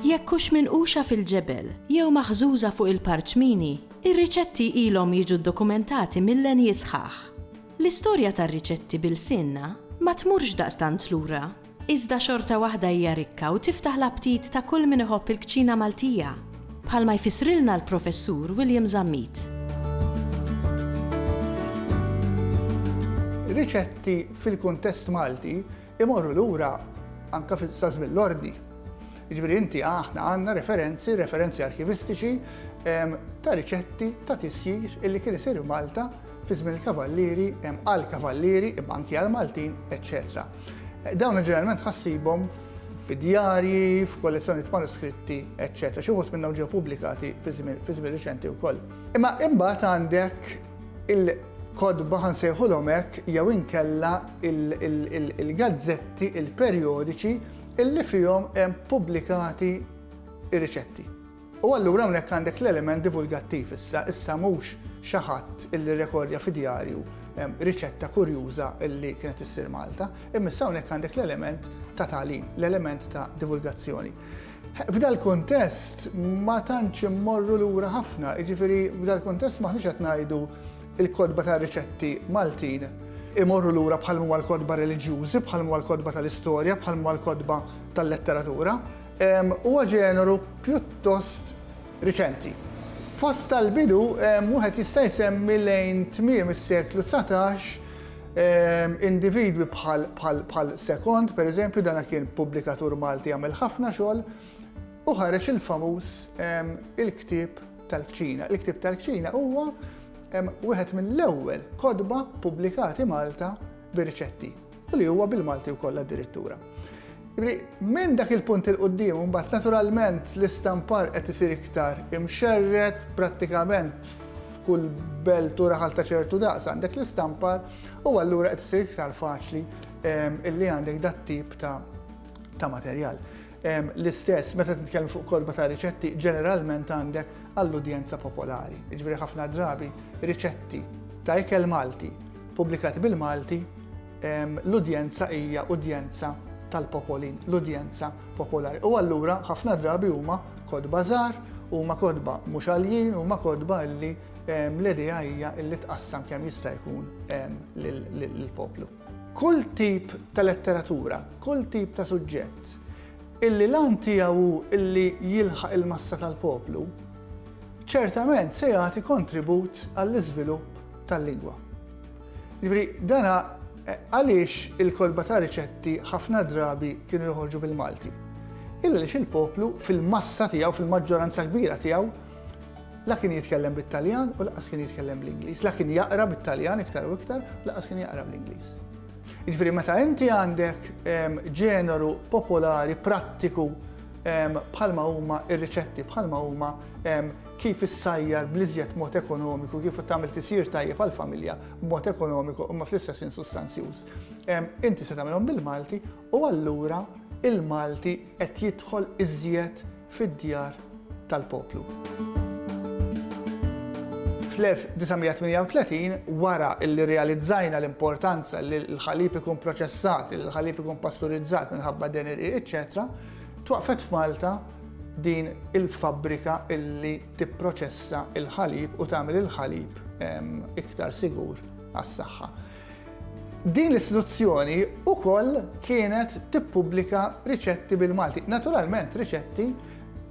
Jekk hux minquxa fil-ġebel jew maħżuża fuq il-parċmini, ir-riċetti ilhom jiġu ddokumentati mil-lenji sħaħ. L-istorja tar-riċetti bil-sinna ma tmurx daqstant lura. iżda xorta waħda hija rikka u tiftaħ l-aptit ta' kull min iħobb il-kċina Maltija, bħalma jfissrilna l-Professur William Zammit. Riċetti fil-kuntest Malti imorru lura anke sa żmien l-Ordni. Jiġifieri inti aħna għandna referenzi, referenzi arkivistiċi ta' riċetti ta' tisjir illi kien isir Malta fi żmien il-kavallieri, għal kavallieri, imma anki għal Maltin, eċċetera. Dawn ġeneralment ħassibhom fid-djarji, f'kollezzjonijiet manuskritti, eċċetera. Xi wħud minnhom ġew pubblikati fi żmien riċenti wkoll. Imma imbagħad għandek il kodba ħansejħulhom hekk jew inkella il-gazzetti, il-perjodiċi illi fihom hemm pubblikati ir-riċetti. U allura hawnhekk għandek l-element divulgattiv issa, issa mhux xi ħadd illi rekordja fi djarju riċetta kurjuża illi kienet issir Malta, imma issa hawnhekk għandek l-element ta' tagħlim, l-element ta' divulgazzjoni. F'dal kuntest ma tantx immorru lura ħafna, jiġifieri f'dal kuntest m'aħniex qed ngħidu il-kotba ta' riċetti Maltin imorru lura bħal huma l-kotba reliġjużi, bħal huma l-kotba tal-istorja, bħal huma l-kotba tal-letteratura, Huwa ġeneru pjuttost riċenti. Fost tal-bidu wieħed jista' jsemmi lejn tmiem is-seklu dsatax individwi bħal Second, pereżempju, dan kien pubblikatur Malti għamel ħafna xogħol u ħareġ il-famuż Il-Ktieb tal-Kċina. Il-Ktieb tal-Kċina huwa wieħed mill-ewwel kotba ppubblikati Malta bir-riċetti. li huwa bil-Malti wkoll addirittura. Minn dak il-punt il-qoddim, mbagħad naturalment l-istampar qed isir iktar imxerret prattikament f'kull belt u raħal ta' ċertu daqs għandek l-istampar u allura qed isir iktar faċli ehm, illi għandek dat tip ta' materjal. L-istess, meta titkellem fuq kotba ta' riċetti, ġeneralment għandek għall-udjenza popolari. Jiġifieri ħafna drabi riċetti ta' ikel Malti pubblikati bil-Malti, l-udjenza hija udjenza tal-popolin, l-udjenza popolari. U allura ħafna drabi huma kotba żgħar, huma kotba mhux għaljin, huma kotba li l-idea hija li tqassam kemm jista' jkun lill-poplu. Kull tip ta' letteratura, kull tip ta' suġġett illi l-għan tiegħu hu illi jilħaq il-massa tal-poplu, ċertament se jagħti kontribut għall-iżvilupp tal-lingwa. Jiġifieri dana għaliex il-kotba ta' riċetti ħafna drabi kienu joħorġu bil-Malti? Illa għaliex il-poplu fil-massa tiegħu, fil-maġġoranza kbira tiegħu, La kien jitkellem bit-Taljan u laqas kien jitkellem bl-Ingliż. La kien jaqra bit-Taljan iktar u iktar, laqas kien jaqra bl-Ingliż. Ġifieri meta inti għandek ehm, ġeneru popolari prattiku ehm, bħalma huma ir-riċetti, bħalma huma ehm, kif issajjar bl-iżjed mod ekonomiku, kif tagħmel tisir tajjeb għall-familja b'mod ekonomiku imma fl-istess insustanzjuż. Inti se tagħmilhom bil-Malti U allura il-Malti qed jidħol iżjed fid-djar tal-poplu. Fl-1938, wara li rrealizzajna l-importanza li l-ħalib ikun proċessat, li l-ħalib ikun pasturizzat minħabba deneri, eċċetera, twaqqfet f'Malta din il-fabbrika li tipproċessa l-ħalib u tagħmel il-ħalib iktar sigur għas-saħħa. Din l-istituzzjoni wkoll kienet tippubblika riċetti bil-Malti, naturalment riċetti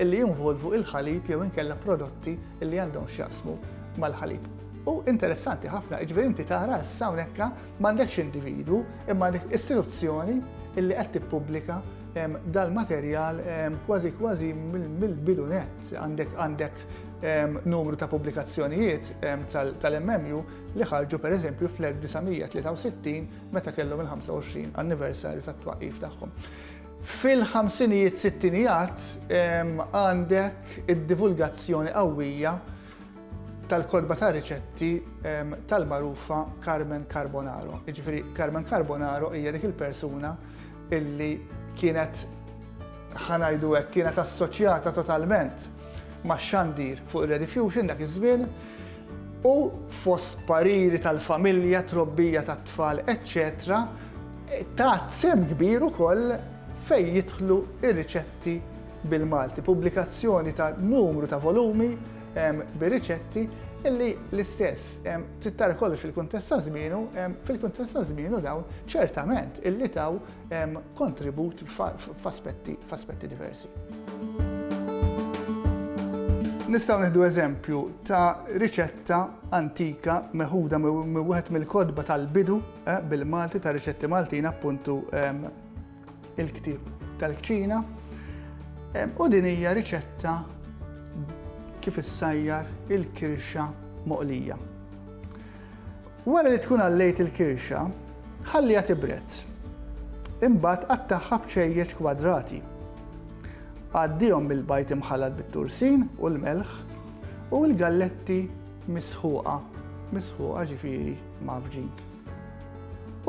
li jinvolvu l-ħalib jew inkella prodotti li għandhom x'jaqsmu mal-ħalib. U interessanti ħafna, jiġifieri inti tara issa hawnhekk m'għandekx individwu imma għandek istituzzjoni illi qed tippubblika dal-materjal kważi kważi mill-bidu net għandek għandek numru ta' pubblikazzjonijiet tal-MMU li ħarġu pereżempju fl-1963 meta kellhom il-25 anniversarju tat-twaqqif tagħhom. Fil-ħamsinijiet sittinijat għandek id-divulgazzjoni qawwija tal-kodba ta' riċetti tal-marufa Carmen Carbonaro. Ġifieri Carmen Carbonaro hija dik il-persuna illi kienet ħanajdu hekk kienet assoċjata totalment ma' xandir fuq ir-Redifusion dak iż-żmien u fost pariri tal-familja, trobbija tat-tfal, eċċetera tat sehem kbir ukoll fejn jidħlu r-riċetti bil-Malti. Pubblikazzjoni ta' numru ta' volumi bir-riċetti illi l-istess trid tara kollox fil-kuntest ta' żmienu, fil-kuntest ta' żmienu dawn ċertament illi taw kontribut f'aspetti diversi. Nistgħu nieħdu eżempju ta' riċetta antika meħuda minn wieħed mill-kotba tal-bidu eh, bil-Malti ta' riċetti Maltin appuntu ehm, il-ktieb tal-kċina. Ehm, u din hija riċetta kif issajjar il-kirxa moqlija. Wara li tkun għallejt il-kirxa, ħalliha tibred. Imbagħad qattagħha b'ċejjeċ kwadrati. Għaddihom bil-bajd imħallat bit-tursin u l-melħ u l-galletti misħuqa, misħuqa ġifieri mgħaffġin.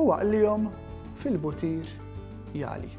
U aqlihom fil-butir jagħli.